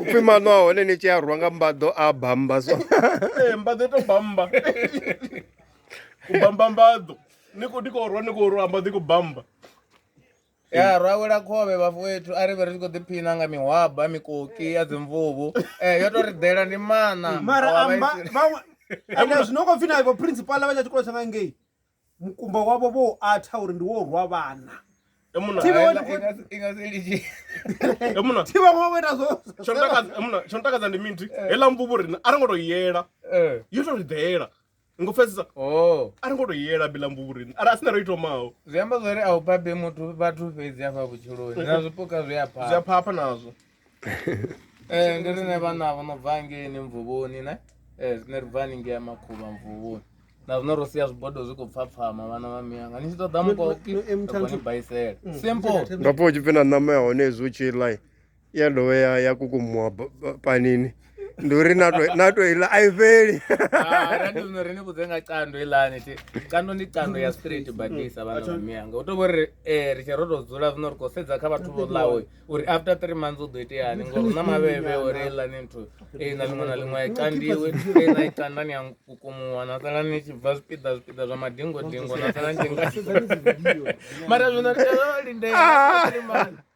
upfi maṋo a hone ni tshi a rwa nga mbaḓo a bamba so ee mbaḓo to bamba u bamba mbaḓo ni khou khou rwa ni khou rwa mbaḓo i khou bamba ya rwa wela khovhe vhafu wethu a ri vhe ri tshi khou ḓiphina nga mihwaba mikoki ya dzimvuvu um yo to ri ḓela ndi maṋa mara amba vhaṅwe ende zwino khou pfi na ivo principal vha tsha tshikolo tsha nga ngei mukumba wavho vho u atha uri ndi wo u rwa vhana emuna Thibe we- Haela, inga- inga si litshi. emuna thi vhaṅwe vha vho ita zwo tsho ntakadza emuna tsho ntakadza ndi miti heila mvubu rina a ri ngo to yela Eh, yo to ri ḓela ngo pfesesa oh. a ri ngo to yela bila mvubu rina ari a sina ro itomaho zwi amba zwori a u babe muthu vhathu fhedzi afha vhutshiloni na zwipuka zwi a zwi a phaa phapha nazwo eh ndi rine vhana vho no bva ngei ni mvuvhoni ne eh rine ri bva haningei ya makhuvha mvuvhoni na zwino ro sia zwibodo zwi khou pfhapfhama vhana vha miyanga ni tshi ṱoḓa mukoki ni baisela simple ngapo u tshi pfhi na ṋama ya hone hezwi u tshi ḽa ya dovha ya kukumuwa panini ndi uri na to- na to iḽa a i fheli Ah, ra ndi zwino ri ni vhudze nga cando iḽani ti cando ndi cando ya straight badisa vhana vha miyanga u to vho ri eh, ri tshi ro to dzula zwino ri khou sedza kha vhathu vho ḽawe uri after three months u ḓo iteani ngori hu na mavhevhe uri iḽani nthu ei na ḽiṅwe na ḽiṅwe a i candiwe ei na i canda ni a kukumuwa na sala ni tshi bva zwipiḓa zwipiḓa zwa madingodingo na sala ni tshi nga mara zwino ri tea lindela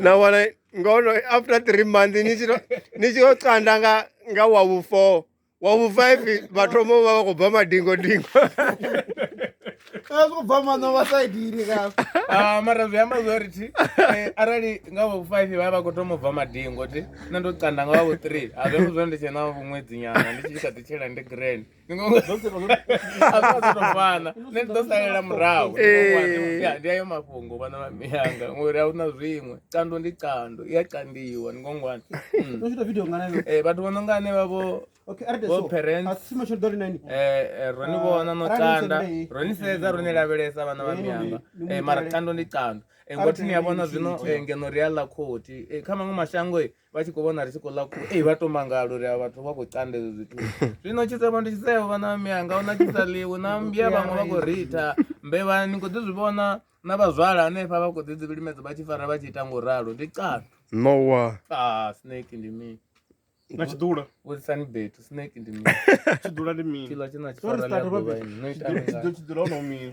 na vona ngono after three month ni tshi yo canda nga nga wa vhu four wa vhu five vha thoma u vha vha khou bva madingo dingo zwi khou bva maṋo vha sa idiri ka ah, mara zwi amba zwo ri thi eh, arali nga vhu five vha vha khou thoma u bva madingo ti nṋe ndo canda nga wa vhu three a zwi amba zwo ndi tshe na vhuṅwedzi nyana ndi tshi kha ḓi tshela ndi grand vana nṋe ndo salela murahu ndi ayo mafhungo vhana vha miyanga ngori a huna zwiṅwe kando ndi kando i a kandiwa ni ngongwana vhathu vho no nga ane vhavho vho parents ro ni vhona no tanda ro ni sedza ro ni lavhelesa vhana vha miyanga mara kando ndi kando ngothi ni a vhona zwino ngeno ri a ḽa khothi kha maṅwe mashango vha tshi khou vhona ri tshi khou ḽa ku ei vha to mangala uri a vhathu vha khou canda ezwo zwithu zwino tshisevho ndi tshisevho vhana vha miyanga una tshisa ḽiwi na mmbya vhaṅwe vha khou ritha mbevha ni khou ḓi zwi vhona na vhazwala hanefha vha khou ḓi dzi vhilimedza vha tshi fara vha tshi ita ngo ralo ndi catu nowa ah snake ndi mini na tshiḓula vhudzisani betu snake ndi mini tshiḓula ndi mini tshiḽa tshina tshifara ḽa ḓuvha ini no ita mini tshiḓula ho no mini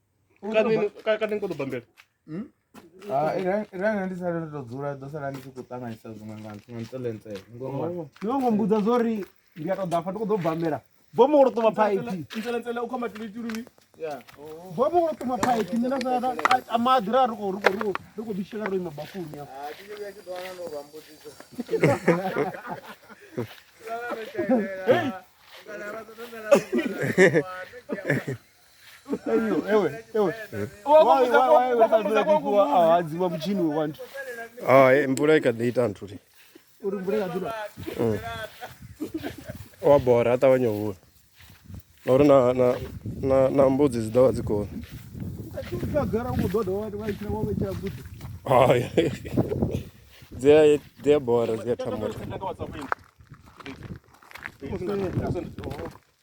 kani ko ḓo bambela hmm? ah, iranga ndi sale ndo dzula ḓo sala ndi tshi khou ṱanganyisa zwiṅwe nga nga ntselentsele oh. no ngo mbudza zwo ri ndi a tou ḓa fa ndi khou ḓo bambela bomo wo ṱuma phaiphi ntselentsele u khomba tilitiliwi bomo wo ṱuma phaiphi nṋe na sala a maḓi ra ri khou ri khou ri khou ri khou bishela ro ima bafuni ya ah, Hey! awadziwa mutshini we wantu hai mvula i kha ḓi ita nthu ti uri mvula i kha ḓi mm. wa bora a ṱavhanya u hula na uri na na na na mbudzi dzi ḓovha dzi koni hai dzi a dzi a bora dzi a thamula